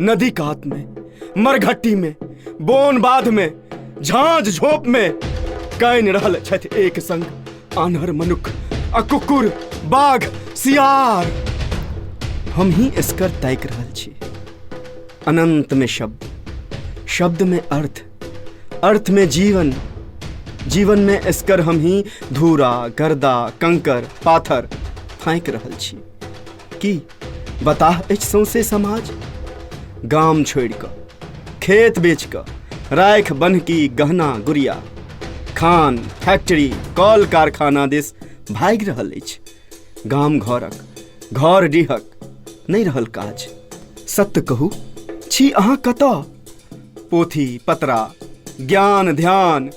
नदी कात में मरघट्टी में बोन बाध में झांझ झोप में कैन रहल छथि एक संग आन्हर मनुख आ कुकुर बाघ सियार हम ही एसकर ताकि रहल छी अनंत में शब्द शब्द में अर्थ अर्थ में जीवन जीवन में एसकर हम ही धूरा गर्दा कंकर पाथर फाँकि रहल छी की बताह अछि सौंसे समाज गाम छोड़ि कऽ खेत बेच कऽ राखि बन्हकी गहना गुड़िया खान फैक्ट्री कल कारखाना दिस भागि रहल अछि गाम घरक घर डीहक नहि रहल काज सत्य कहू छी अहाँ कतऽ पोथी पतरा ज्ञान ध्यान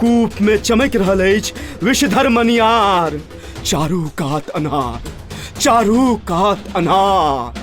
कूप में चमक रहल अछि विषधर मनियार चारू कात अनार चारू कात अनार